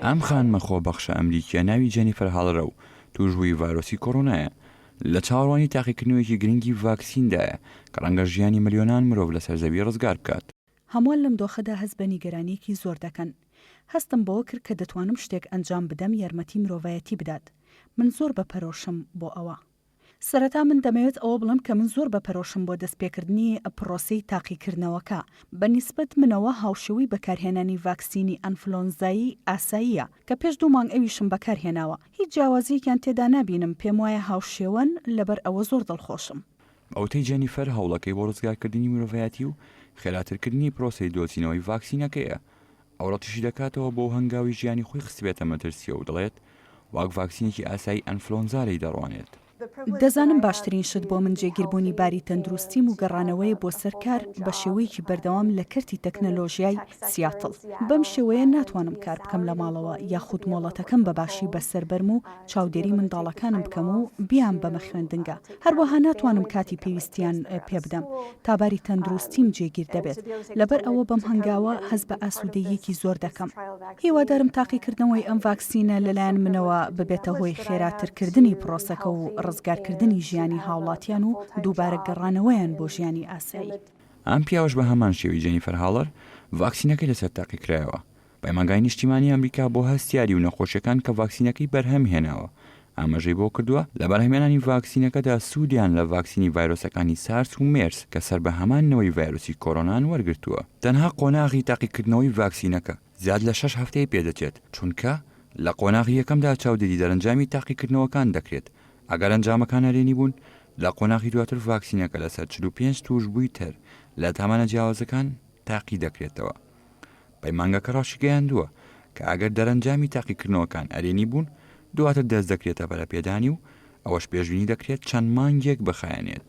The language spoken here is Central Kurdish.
ئەم خانمە خۆبەخشە ئەمریکییە ناوی جێنیفەر هاڵرە و تووشبووی ڤایرۆسی کۆرۆنایە، لە چاوەڕوانی تاقیکردنەوەیەکی گرنگی ڤاکسیندایە کە ڕەنگە ژیانی ملیۆنان مرۆڤ لەسەر زەوی ڕزگار بکات. هەمووان لەم دۆخەدا هەست بە نیگەرانییەکی زۆر دەکەن. هەستم بەوە کرد کە دەتوانم شتێک ئەنجام بدەم یارمەتی مرۆڤایەتی بدات. من زۆر بە پەرۆشم بۆ ئەوە. سەرەتا من دەمەوێت ئەوە بڵێم کە من زۆر بەپەرۆشم بۆ دەستپێکردنی پڕۆسەی تاقیکردنەوەکە. بە نیسبەت منەوە هاوشێوەی بەکارهێنانی ڤاکسینی ئەنفلۆنزایی ئاساییە، کە پێش دوو مانگ ئەویشم بەکارهێناوە. هیچ جیاوازییەکیان تێدا نابینم، پێموایە هاوشێوەن، لەبەر ئەوە زۆر دڵخۆشم. بە وتەی جێنیفەر، هەوڵەکەی بۆ ڕزگارکردنی مرۆڤایەتی و خێراترکردنی پڕۆسەی دۆزینەوەی ڤاکسینەکەیە، ئەو ڕەتیشی دەکاتەوە بۆ هەنگاوی ژیانی خۆی خستبێتە مەترسییە و دەڵێت، واک ڤاکسینێکی ئاسایی ئەنفلۆنزا لێی دەڕوانێت. دەزانم باشترین شت بۆ من جێگیربوونی باری تەندروستیم و گەڕانەوەیە بۆ سەر کار بە شێوەیەکی بەردەوام لە کەرتی تەکنەلۆژیای سیاتڵ. بەم شێوەیە ناتوانم کار بکەم لە ماڵەوە یاخود مۆڵەتەکەم بە باشی بەسەر بەرم و چاودێری منداڵەکانم بکەم و بیانبەمە خوێندنگە، هەروەها ناتوانم کاتی پێویستیان پێبدەم تا باری تەندروستیم جێگیر دەبێت، لەبەر ئەوە بەم هەنگاوە هەست بە ئاسوودەییەکی زۆر دەکەم. هیوادارم تاقیکردنەوەی ئەم ڤاکسینە لەلایەن منەوە ببێتە هۆی خێراترکردنی پرۆسەکە و ڕزگارکردنی ژیانی هاوڵاتیان و دووبارە گەڕانەوەیان بۆ ژیانی ئاسایی. ئەم پیاوەش بە هەمان شێوەی جێنیفەر هاڵەر ڤاکسینەکەی لەسەر تاقیکرایەوە. پەیمانگای نیشتیمانی ئەمریکا بۆ هەستیاری و نەخۆشیەکان کە ڤاکسینەکەی بەرهەم هێناوە ئاماژەی بۆ کردووە، لە بەرهەمێنانی ڤاکسینەکەدا سوودیان لە ڤاکسینی ڤایرۆسەکانی سارس و مێرس کە سەر بە هەمان نەوەی ڤایرۆسی کۆرۆنان وەرگرتووە. تەنها قۆناغی تاقیکردنەوەی ڤاکسینەکە زیاد لە شەش هەفتەی پێدەچێت، چونکە لە قۆناغی یەکەمدا چاودێری دەرەنجامی تاقیکردنەوەکان دەکرێت، ئەگەر ئەنجامەکان نەرێنی بوون، لە قۆناغی دواتر ڤاکسینەکە لەسەر چل و پێنج تووشبووی تر لە تامانە جیاوازەکان، تاقی دەکرێتەوە. پەیمانگەکە ڕاشیگەیاندووە کە ئەگەر دەرەنجامی تاقیکردنەوەکان ئەرێنی بوون، دواتر دەست دەکرێتە پەرەپێدانی و ئەوەش پێشبینی دەکرێت چەند مانگێک بخایەنێت.